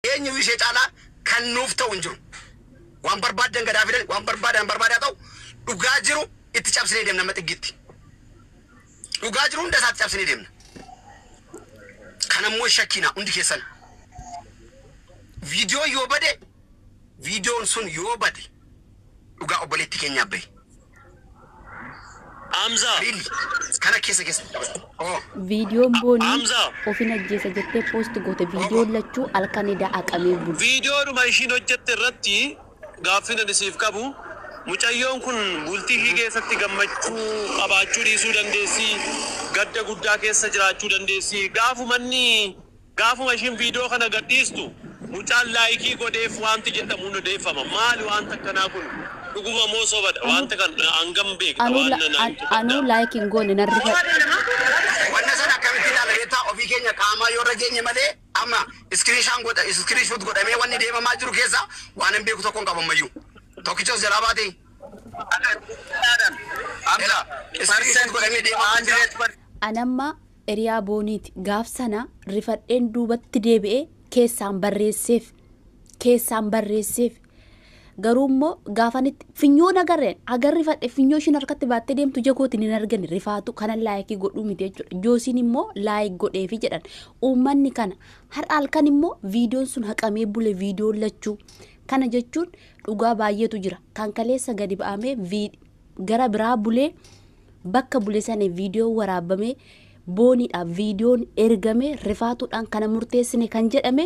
Eenyuyyuu ishee caalaa kan nuuf ta'u hin jiru. Waan barbaaddan gad haa fidan, waan barbaadan barbaade haa ta'u, dhugaa jiru itti cabsinee deemna hamma xiggiitti. Dhugaa jiru hunda isaatti cabsinee deemna. Kanammoo hin shakkiinaa hundi keessan. Viidiyoon yoo bade, viidiyoon sun yoo bade dhugaa obboleetti keenyaaf bahe. Amza. Bil. Kana kesa kesa. Oh. Viidiyoon boonii Hamza. ofin ajjeesa jettee poosti goote viidiyoon lachuu halkan edaa aqamee bulu. Viidiyoodhuma ishiin hojjette irratti gaaffiin ani siif qabu mucayyoon kun bultii ishii keessatti gammachuu qabaachuu dhiisuu dandeessi, gadda guddaa keessa jiraachuu dandeessi. Gaafumanni Gaafuma ishiin viidiyoo kana gadhiistu mucaan laayikii godheef waanti jedhamu ni odeeffama. Maali waanti akkanaa kun? Dhuguma moo sobadha? Anuu Waanta kana hangam beekta? anuu Waan la na na an himtu anuu qabdaa? like hin goone nan rifa. Wanna sana akkamitti ilaala beektaa ofii keenya qaamaa yoo irra geenye malee amma screen shaan godha screen shoot godhamee wanni deemamaa jiru keessa waanan beeku tokkon qabu ammayyuu tokkicha of jalaa baatee Akka dhugaadhaan. Amma ilaa screen shoot godhamee percent deemamaa jira. 100% An amma Eriyaa Booniiti. Gaaf sana rifadheen duubatti deebi'ee keessaan barreesseef. Keessaan barreesseef. Garuu immoo gaafan itti finyoo nagarreen agar rifadhe finyoo ishiin harkatti baattee deemtu ija kootiin hin argine rifaatu kanan laayikii godhuu miti jechuudha. Joosiin immoo laayik godheefi jedhan. Uummanni kana har'a halkan immoo viidiyoon sun haqamee bule viidiyoon lachuu. Kana jechuun dhugaa baay'eetu jira. Kan kaleessa gadi ba'amee viid- gara biraa bulee bakka bule sana viidiyoon waraabame booniidhaaf viidiyoon ergame rifaatuudhaan kana murteessine kan jedhame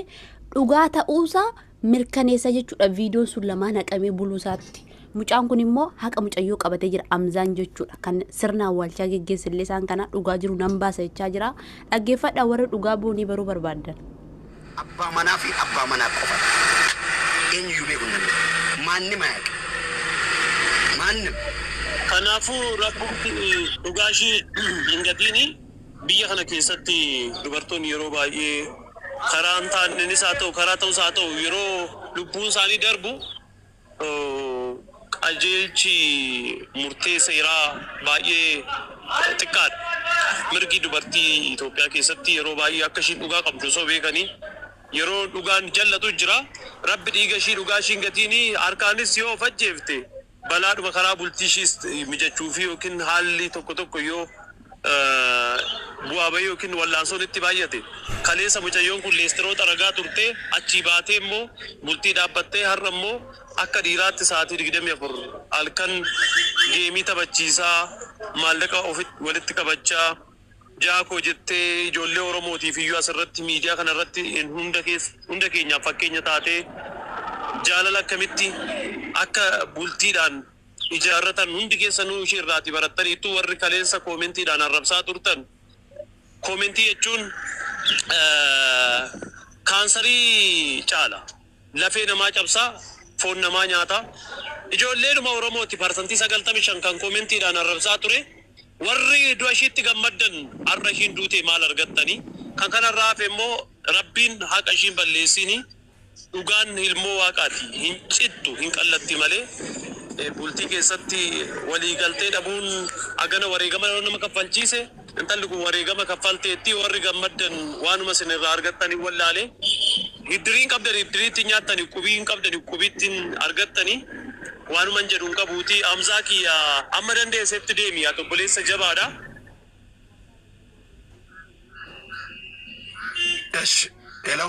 dhugaa ta'uusaa mirkaneessa jechuudha viidiyoon sun lamaan haqamee buluusaatti. Mucaan kun immoo haqa mucayyoo qabatee jira amzaan jechuudha kan sirna awwaalchaa geggeessillee isaan kana dhugaa jiru nan baasa jechaa jira dhaggeeffadhaa warri dhugaa boonii baruu barbaaddan. Abbaa manaa fi abbaa manaa qofa dha. Eenyuyyuu beekuu hin danda'u. Maannim ayaqin. Maannim. Kanaafuu Rabbumti dhugaa ishii hin gatiini. Biyya kana keessatti dubartoonni yeroo baay'ee karaa hin taannenis haa ta'u karaa ta'us haa ta'u yeroo lubbuun isaanii darbu, qajeelchi murtee seeraa baay'ee xiqqaadha. Mirgi dubartii Itoophiyaa keessatti yeroo baay'ee akka ishiin dhugaa qabdu osoo beekanii yeroo dhugaan jal'atu jira. Rabbi dhiiga ishii dhugaa ishii hin gatiini. Harkaanis yoo of ajjeefte balaadhuma karaa bultii ishiis mijachuufii yookiin haalli tokko tokko yoo bu'aa bahii ykn wal'aansoon itti baay'ate. Kaleessa mucayyoon kun leestiroo xaragaa turtee achii baatee immoo bultii dhaabbattee har'a immoo akka dhiiraatti sa'aatii 24 halkan geemii taphachiisaa, maallaqa ofitti walitti qabachaa, jaa koo jettee ijoollee Oromootiif iyyuu asirratti miidiyaa kanarratti hunda keessa hunda keenyaaf fakkeenya taatee jaalala akkamitti akka bultiidhaan. ijaarratan hundi keessanuu ishii irraatii barattaniittu warri kaleessa koomentiidhaan arrabsaa turtan koomentii jechuun kaansarii caala lafee namaa cabsaa foon namaa nyaata ijoolleedhuma oromooti parsantii sagaltamii shan kan koomentiidhaan arrabsaa ture warri du'a ishiitti gammaddan har'a ishiin duutee maal argattanii kan kanarraa hafe immoo rabbiin haqa ishiin balleessiini Dhugaan ilmoo waaqaati hin cittu hin qallatti malee bultii keessatti walii galtee dhabuun agana wareegama nama kaffalchiise intalli kun wareegama kaffalteetti warri gammaddan waanuma isin irraa argattan hin wallaale hiddirii hin qabdan hiddirii ittin nyaattani qubii hin qabdani qubii ittin argattani waanuman jedhu hin qabuuti Hamzaa kiyya amma dandeessetti deemi ati obboleessa jabaadha. Esh hello.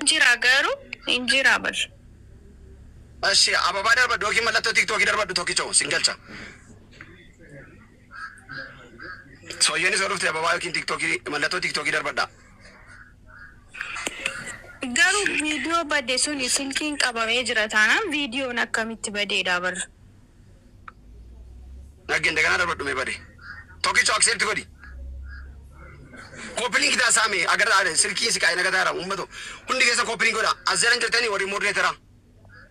Hin jiraa garuu hin jiraa bar. Eshi ababaa darbadhu yookiin mallattoo tiktoki darbadhu tokkicho sin galcha sooyyeenis yoo dhufte ababaa yookiin tiktoki mallattoo tiktoki darbadha. Garuu video bade suni silkiin qabamee jira taanaan videon akkamitti badeedha bar. Nagge indaganaa darbadhu mee bade tokicho accept godhi copy link taa saame agarra are silkiin siqaa'e nagataara ummato hundi keessan copy link godha as jalan jirtani warri moderator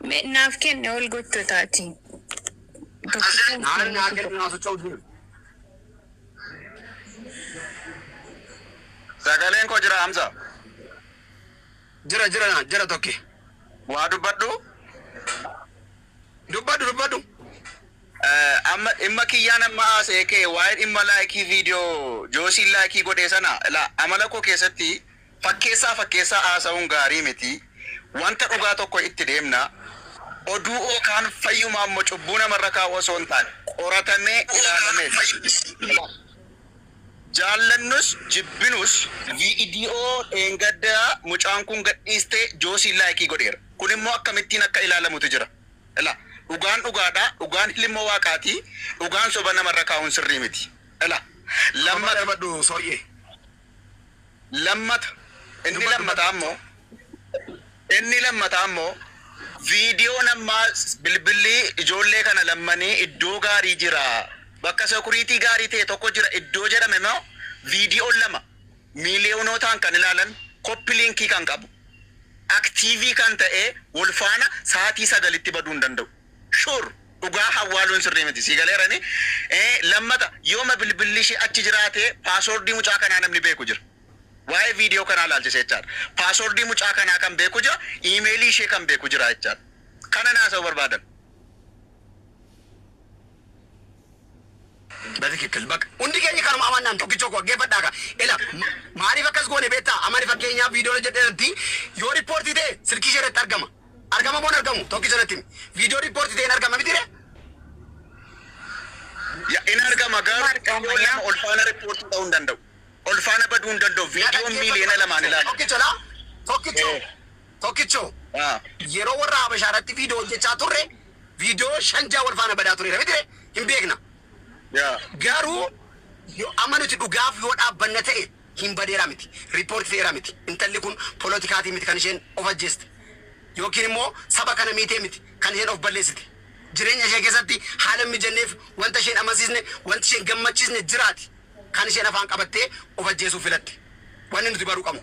Me naaf kenne ol gottotaatii. as jalan naaran naa kennu naa socho'u dide Sagaleen koo jira Hamza. jira jira naa jira tokke Waa dubbadhu. Dubbadhu dubbadhu Amma dhimma kiyyaan amma haasa'e kee waa'ee dhimma like video Joosiin like godhee sana ilaa amala koo keessatti fakkeessaa fakkeessaa haasa'uun gaarii miti wanta dhugaa tokko itti deemna oduu yookaan fayyumaa immoo cubbuu namarra kaa'uu osoo hin taane qoratamee ilaalamee Jaallannus jibbinus viidiyoo dheengadda mucaan kun gadhiiste Joosiin laayikii godheera. Kun immoo akkamittiin akka ilaalamutu jira. Ela. Dhugaan dhugaadha. Dhugaan hilmmoo waaqaati. Dhugaan soba namarra kaa'uun sirrii miti. Ela. Lamma. Dhuga dhabadhu soryee. Lammata, inni lammataa immoo, inni lammataa immoo viidiyoon ammaa bilbilli ijoollee kana lammanii iddoo gaarii jira, bakka security gaarii ta'e tokko jira iddoo jedhame immoo viidiyoon lama miiliyonootaan kan ilaalan copy link kan qabu active kan ta'ee wal faana sa'aatii 9tti baduu hin danda'u. Sure dhugaa hawwaaluun sirrii miti sii galeerani ee lammata yooma bilbilli ishii achi jiraate password mucaa kanaa namni beeku jira waa'ee video kanaa ilaalchise jechaadha password mucaa kanaa kan beeku jira email ishee kan beeku jira jechaadha kanan haasa'uu barbaadan. Batikikkil bakka hundi keenya kanuma amannaan tokkichoo koo dhaggeeffadhaa ka ila maaliif akkas goone beektaa amani fakkeenyaaf viidiyoon hojjedhe irratti yoo riippoortii ta'e silkii ishee irratti argama Argama moo hin argamu tokkicha natti himi. Video report ta'e hin argama mitire? Ya in argama garuu Maal qaama video lama yaa? ol faana report ta'uu hin danda'u. Ol faana baduu hin danda'u. Na Video dhaggeeffadhu miliyoona lamaan tokkicho. ilaala. Tokkicho laa. Tokkicho. Eh. Tokkicho. Ah. Yeroo warra Habashaa irratti viidiyoo hojjechaa turre viidiyoo shan ja'a wal faana badaa tureera mitire? Hin beekna. Ya. Garuu yo- amma nuti dhugaaf yoo dhaabbanna ta'e hin badeera miti report fe'eera miti intalli kun polotikaatiin miti kan isheen of ajjeeste yookiin immoo saba kana miitee miti kan isheen of balleessite jireenya ishee keessatti haala hin mijanneef wanta isheen amansiisne wanti isheen gammachiisne jiraati kan isheen afaan qabattee of ajjeesuuf filatte wanni nuti baruu qabnu.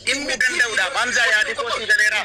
Dhimmi danda'uudhaaf Hamzaa yaadi koo sii galeeraa?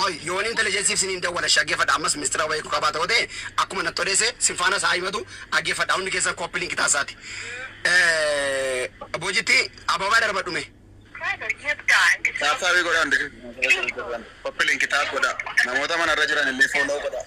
Qoy yoon intelligence'f siniin dawwala ishee aggeeffadha ammas mistira wayii kukaa baata yoo ta'e akkuma natti odeesse sin faanas haa himatu aggeeffadha hundi keessan copy link taassaati bojitti ababaa darbadhu mee. Tap tap godhaa hundi keessan copy link tap godhaa namoota mana irra jiran illee follow godhaa.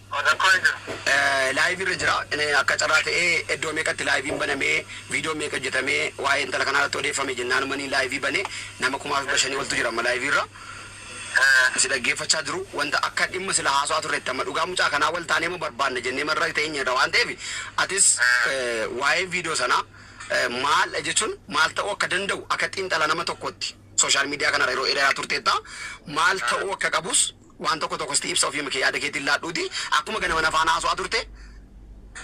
An rakkoo hin jiru. Live irra jira akka carraa ta'ee iddoo meeqatti live'n baname videon meeqa hojjetame waa'ee intala kanaa irratti odeeffame jennaanumani live bane nama kumaa dhibba shanii oltu jira amma live irra si dhaggeeffachaa jiru wanta akka dhimma sila haasawaa turretti amma dhugaa mucaa kanaa wal taanee moo barbaanna jennee marra teenye irra waan ta'eef atis waa'een video sanaa maaldha jechuun maal ta'uu akka danda'u akka xiinxala nama tokkootti social media kanarra yeroo dheeraa turteetta maal ta'uu akka qabus Waan tokko tokko sti ibsa ofiima kee yaada keetiin laadhuuti akkuma ganama na faana haaso'aa turte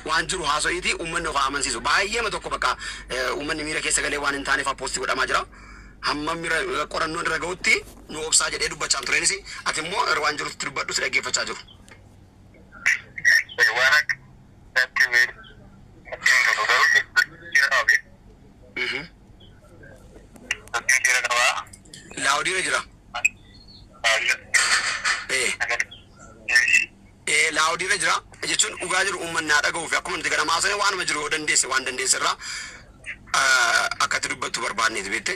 waan jiru haaso'iiti uummanni of haa amansiisu. Baayyeema tokko bakka uummanni miira keessa galee waan hin taane faa post godhamaa jira. Hamma mira qorannoon irra ga'utti nu obsaa jedhee dubbachaan tureenis ati immoo waan jiru itti dubbadhu si dhaggeeffachaa jiru. Waan akka natti hin tolu garuu jijjiirama beektu. Loud irra jira. Ee. Ee loud irra jira. Jechuun dhugaa jiru uummanni haa dhaga'uu fi akkuma nuti ganama haasofne waanuma jiru yoo dandeesse waan dandeesse irraa akka itti dubbattu barbaadneeti beekte.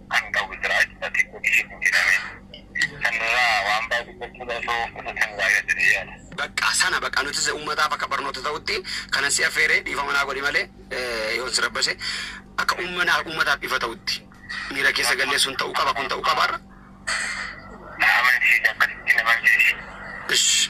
kan qabu jira jechuudha. Xiqqoo ishee hin jedhamee. Sanirraa waan baay'ee dubbachuudha osoo of qusattanii gaariidha jedhee yaada. Baqqa sana baqqa nutis ummataaf akka barnoota ta'utti kanan si affeere dhiifama naa godhi malee yoon si rabbashe akka ummanaaf ummataaf ifa ta'utti miira keessa gallee sun ta'uu qaba kun ta'uu qaba har'a. Na amansiisi akkasitti na amansiisi. Ish.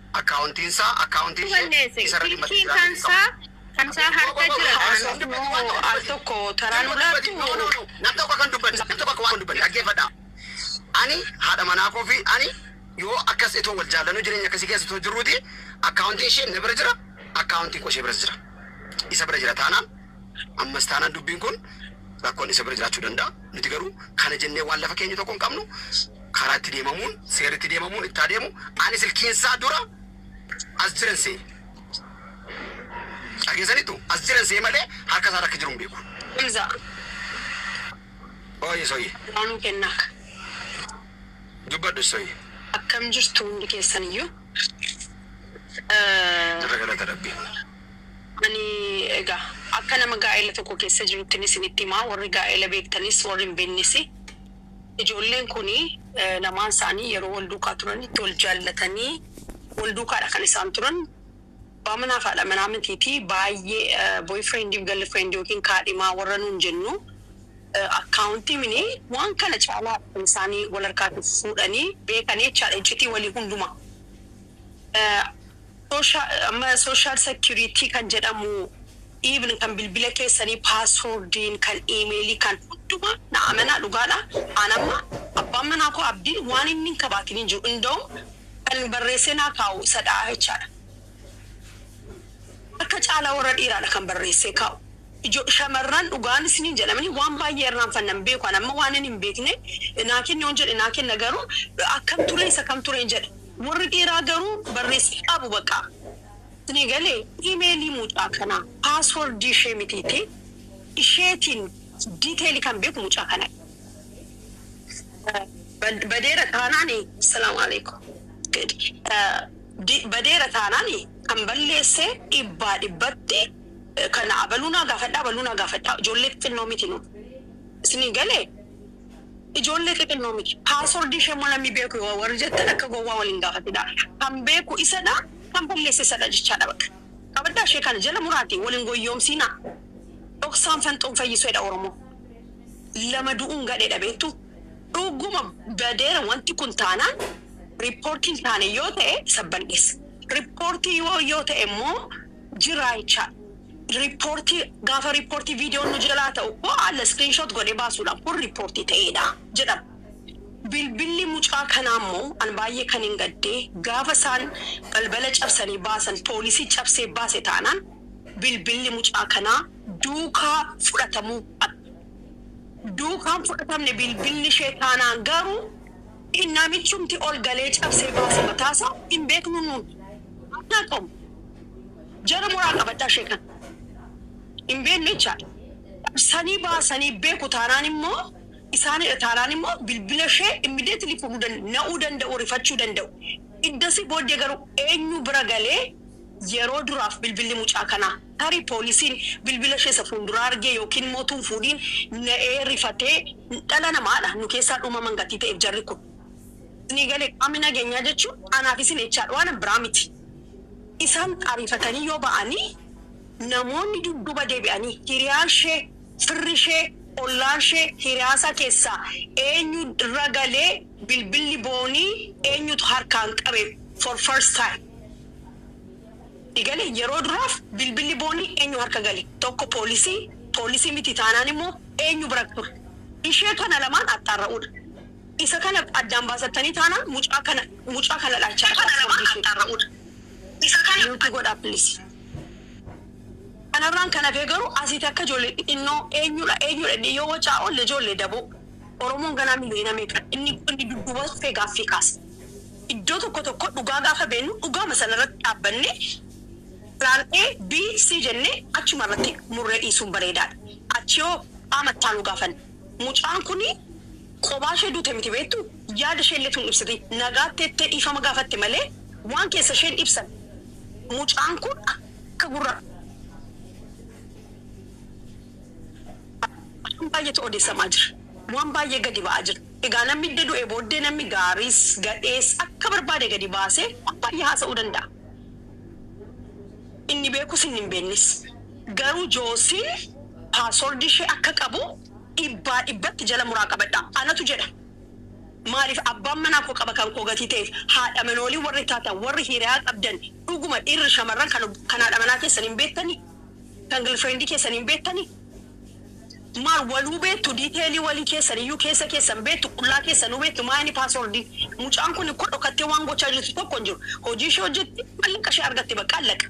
Akkaawuntiinsaa, akkaawuntiin ishee isa irratti madda Silkiin kan isaa kan isaa harka jira kanaaf moo al tokko taraa nu laattu? No no no nam tokko akka hin dubbanne nam tokko akka waan hin dubbanne dhaggeeffadhaa ani haadha manaa koo fi ani yoo akkas itoo wal jaallanuu jireenya akkasii keessa itoo jirruuti akkaawuntiin ishee na bira jira akkaawuntiin koo ishee biras jira isa bira jira taanaan ammas taanaan dubbiin kun rakkoon isa bira jiraachuu danda'a nuti garuu kana jennee waan lafa keenyu tokko hin qabnu Karaa itti deemamuun seerri itti deemamuun itti haa deemu ani silkiinsaa dura as jiran se'e. Dhageessaniittu? As jiran se'e malee harka isaarra akka jiru hin beeku. Hamza. Ooyye Sooyyee. Duraanuu kennaa ka. Dubbadhu Sooyyee. Akkam jirtu hundi keessaniyyuu? Jirra galata Rabbii. Ani egaa akka nama gaa'ela tokko keessa jiruttin isinitti himaa, warri gaa'ela beektanis warri hin beeknes. Ijoolleen kun lamaan isaanii yeroo wal duukaa turanitti wal jaallatanii wal duukaadha kan isaan turan. Abbaa manaa fi haadha manaa mitiiti. Baay'ee boyfriend fi girlfriend yookiin kaadhimaa warra nuun jennu akkaawuntii mini waan kana caalaadha kan isaan wal harkaati fuudhanii beekanii jechaadha. Iccitii walii hundumaa. Amma social security kan jedhamu even kan bilbila keessanii password'n kan email kan hunduma na amanaa dhugaadha an amma abbaan manaa koo abdiin waan inni hin kabaatin hin jiru indawum kan barreessee naa kaa'u isadha jechaadha harka caalaa warra dhiiraadha kan barreessee kaa'u ijo shamarran dhugaan isiniin jedhamani waan baay'ee irraanfanna hin beeku an amma waanan hin beekne naa kenni yoon jedhe naa kenna garuu akkam ture isa kam ture hin jedhe Worri dhiiraa garuu barreessi qabu baqa isinii galee email mucaa kanaa password ishee mitiiti isheetiin detail kan beeku mucaa kana dha badeera taanaan Assalam Alaikum good badeera taanaan kan balleesse dhibbaa dhibbatti kan abaluu naa gaafadhaa abaluu naa gaafadhaa ijoollee xixinnoo miti nu isinii galee. Ijoollee xixinnoo miti. Password ishee immoo namni beeku yoo warri jettan akka gowwaa wal hin gaafatinaa. Kan beeku isadha, kan balleesse isadha jechaadha baqa. Qabaddaa ishee kana jala muraatii wal hin goyyoomsiinaa. Dhoksaan fanxoo hin fayyisu jedha Oromoon. Lama du'uun gadheedha beektuu? Dhuguma badeera wanti kun taanaan report hin taane yoo ta'e sabban dhiisa. Report yoo yoo ta'e immoo jiraa jechaadha. Riippoortii, Gaafa riippoortii viidiyoon nu jalaa ta'u hoo haala screenshot godhee baasuudhaan kun riippoortii ta'eedha jedhama. Bilbilli mucaa kanaa immoo an baay'ee kanin gadde gaafa isaan balbala cabsanii baasan poolisii cabsee baase taanaan bilbilli mucaa kanaa duukaa fudhatamuu qaba. Duukaa hin fudhatamne bilbilli ishee taanaan garuu namichumti ol galee cabsee baase mataasaa hin beeknu nuun. Akka qomu. Jara moraa qabattaa ishee kan hin beekne jechaadha. Qabsanii baasanii beeku taanaan immoo isaanidha taanaan immoo bilbila ishee immediately fudhuu dan na'uu danda'u rifachuu danda'u. Iddasii booddee garuu eenyu bira galee yeroo duraaf bilbilli mucaa kanaa tarii poolisiin bilbila ishee isa fuulduraa argee yookiin immoo utuu hin fuudhiin na'ee rifatee dhala namaadha nu keessaa dhuumaman gatii ta'eef jarri kun. Isinii galee qaamni nageenyaa jechuun anaaf isin jechaadha waan biraa miti. Isaan ariifatanii yoo ba'ani namoonni dudduuba deebi'anii hiriyaashee, firrishee, ollaashee, hiriyaasaa keessaa eenyu irra galee bilbilli Boonii eenyutu harkaan qabe for first time ti galee yeroo duraaf bilbilli Boonii eenyu harka gale tokko poolisii, poolisii miti taanaan immoo eenyu bira ture ishee kana lamaan axxaarra'uudha. Isa kana addaan baasattanii taanaan mucaa kana mucaa kana dhaalchaa akka of furdisudha. Isa kana mute godhaa please. Kanarraan kan hafee garuu asiiti akka ijoollee xixinnoo eenyudha eenyudha jennee yoo wacaa oolle ijoollee daboo Oromoon ganaa miliyoona meeqa inni inni dudduuba dhufee gaaffii kaasa. Iddoo tokko tokko dhugaa gaafa beennu dhugaama sanarratti dhaabbannee plan A, B, C jennee achumarratti murree dhiisuun bareedaadha. Achihoo qaama ittaanuu gaafanna. Mucaan kun kophaa ishee duute miti beektuu? Yaada ishee illee utuu hin ibsatiin nagaatti jettee dhiifama gaafatte malee waan keessa ishee hin ibsanne. Mucaan kun akka gurra afaan baay'eetu odeessamaa jira. Waan baay'ee gadi ba'aa jira. Egaa namni edda du'ee booddee namni gaariis, gadhees akka barbaade gadi baasee waan baay'ee haasa'uu danda'a. Inni beekus inni hin beeknes. Garuu Joosiin password ishee akka qabu dhibbaa dhibbatti jala muraa qabadha. Anatu jedha. Maaliif abbaan manaa koo qaba kan koo gatii ta'eef haadha manoolii warri taatan warri hiriyaa qabdan dhuguma dhiirri shamarran kan kan haadha manaa keessan hin beektanii? Kan girlfriend keessan hin beektanii? Maal waluu beektu detail walii keessan iyyuu keessa keessan beektu qullaa keessanuu beektu maa inni password mucaan kun ko dhokattee waan gochaa jirtu tokko hin jiru hojii ishee hojjetti mallaqa ishee argatte baqqa allaqa.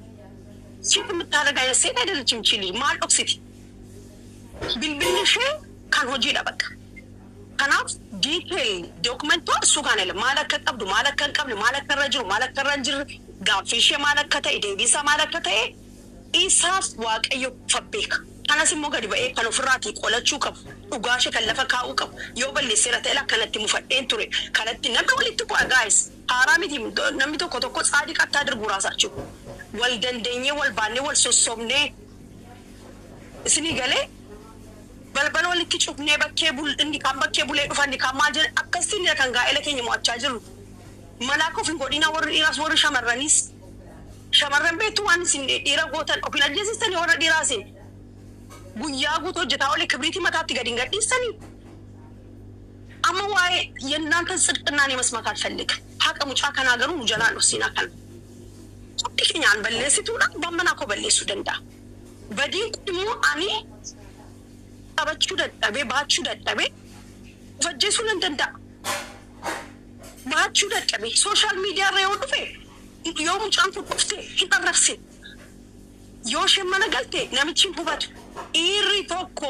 Siif nuttaala gaheessee taydalachim ichii lij maal dhoksiti bilbilli ishee kan hojiidha baqqa kanaaf detail document waan suu kaana ila maal akka qabdu maal akka hin qabne maal akka irra jiru maal akka irra hin jirre gaaffii ishee maal akka ta'e deebii isaa maal akka ta'e isaaf waaqayyo fa beeka kanas immoo gadi ba'ee kan ofirraatii qolachuu qabu dhugaa ishee kan lafa kaa'uu qabu yoo balleesseera ta'e ilaa kanatti mufadheen ture kanatti namni walitti bu'a guys Haaraa miti namni tokko tokko tsaadiq attaa dirburaa saachu wal dandenyee wal baannee wal sossobnee isinii galee balbala walitti cufnee bakkee bul inni kaan bakkee bulee dhufa inni kaan maal jedha akkasitti nira kan gaa'ela keenya mo'achaa jirru malaa akka of hin godhiinaa warri dhiiraas warri shamarraniis shamarran beektu waan isin dhiira gootan of hin ajjeesistanii warra dhiiraa isin guyyaa guutuu hojjetaa olee kibriitii mataatti gad hin gadhiistanii. Amma waa'ee yennantan tsidqinnaan yemasmat alfelligim. Haqa mucaa kanaa garuu nu jalaa hin dhossin akkan hundi kenyaan balleessituudhaan abbaan manaa koo balleessuu danda'a. Badiin kun immoo ani qabachuu dadhabee, baachuu dadhabee of ajjeesuu nan danda'a. Baachuu dadhabee social media irra yoo dhufe yoo mucaan kun dhufte hin arrabsin. Yoo isheen mana galte namichi hin hubatu. Dhiirri tokko.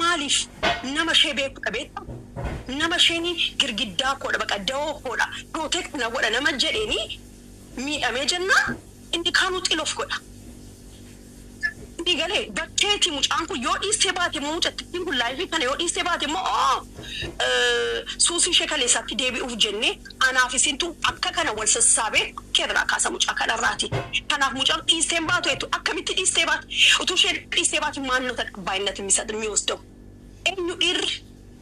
Maaliif nama ishee beeku dha beekta? Nama isheen girgiddaa koo dha, baqa dawoo koo dha, protect na godha nama jedheen miidhamee jennaan inni kaanuu xilof godha. Sii galee? Bakkeeti mucaan kun yoo dhiistee baate immoo mucattiin kun live kana yoo dhiistee baate immoo suusii ishee kaleessaatti deebi'uuf jennee Anaaf isintu akka kana wal sassaabee akka irraa kaasa mucaa kana irraati. Kanaaf mucaan dhiistee hin baatu jettu akkamitti dhiistee baati? Utuu isheen dhiistee baate maal nota taqabbaayinnatin misat miwosdaw? Eenyu dhiirri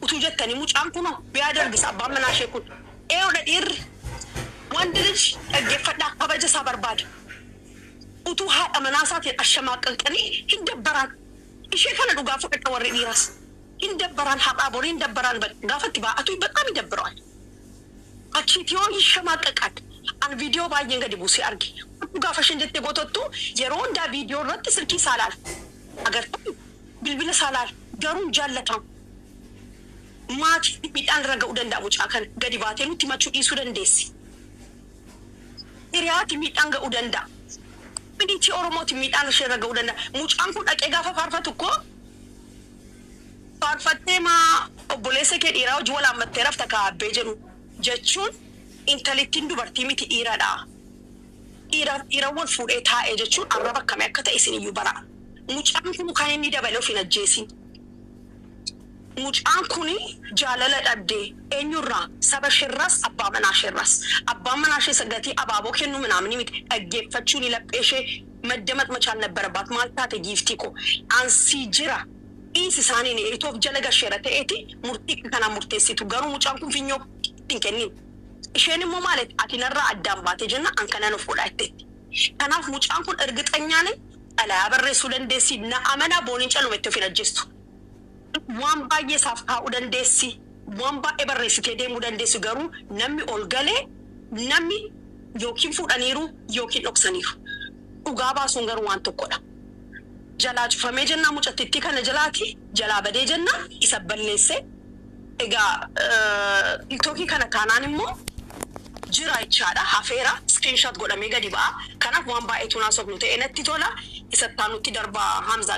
utuu jettanii mucaan kunoo biyaa darbisa abbaan manaa ishee kun. Eeyoodha dhiirri. Wand lij dhaggeffadhaa kabaja isaa barbaada. Utuu haadha manaa isaatiin ashamaaqaqxanii hin dabbaraan. Ishee kana dhugaa fudhadha warri dhiiraas. Hin dabbaraan har'aa bori hin dabbaraan baqqa gaafa itti baa'atu baxaam idabbirewaal. Achiiti yoo hin shamaaqaqaadhe an video baay'een gadi buusee arge kottu gaafa isheen jettee gotottu yeroo hundaa video irratti silkii isaa laala agartani bilbila isaa laala garuu hin jaallatamu maatiif miidhaan irra ga'u danda'a mucaa kana gadi baatee nutti himachuu dhiisuu dandeessi hiriyaati miidhaan ga'u danda'a community oromooti miidhaan ishee irra ga'u danda'a mucaan kun dhaqee gaafa faarfatu koo Faarfattee maa obboleessa kee dhiiraa wajjin wal haammattee rafta kaa Abbee jedhu jechuun intalittiin dubartii miti dhiiradha. Dhiiraaf dhiira wal fuudhee taa'e jechuun arraba akkamii akka ta'e isiniyyuu baraa. Mucaan kun kan inni dabale of hin ajjeesiin. Mucaan kun jaalala dhabdee. Eenyurraa? Saba isheerraas abbaa manaa isheerraas. Abbaan manaa ishees gatii abaaboo kennuu minaaminii miti dhaggeeffachuuni laphee ishee. Maddamaq machaal nabbarabaat maal taate giiftii koo an sii jira dhiisi isaaniin itoof jala gasheera ta'eeti murtii akka kanaa murteessitu garuu mucaan kun finyoo keetti hin kenniin isheen immoo maal jette ati narraa addaan baate jennaan an kanan of godhaa jetteetti kanaaf mucaan kun irgixanyaa nayi xalayaa barreessuu dandeessi na amanaa booniin caluma itti of hin ajjeestu. Waan baay'ee isaaf kaa'uu dandeessi, waan baay'ee barreessitee deemuu dandeessi, garuu namni ol gale namni yookiin fuudhaniiru yookiin dhoksaniiru. Dhugaa baasuun garuu waan tokkodha. Jalaa cufamee jennaan mucattittii kana jalaati, jalaa badee jennaan isa balleesse. Egaa tiktoki kana taanaan immoo Jira jechaadha hafeera screenshot godhamee gadi ba'a kanaaf waan baay'ee tuun haasofnu ta'ee natti tola isa ittaanutti darbaa Hamzaa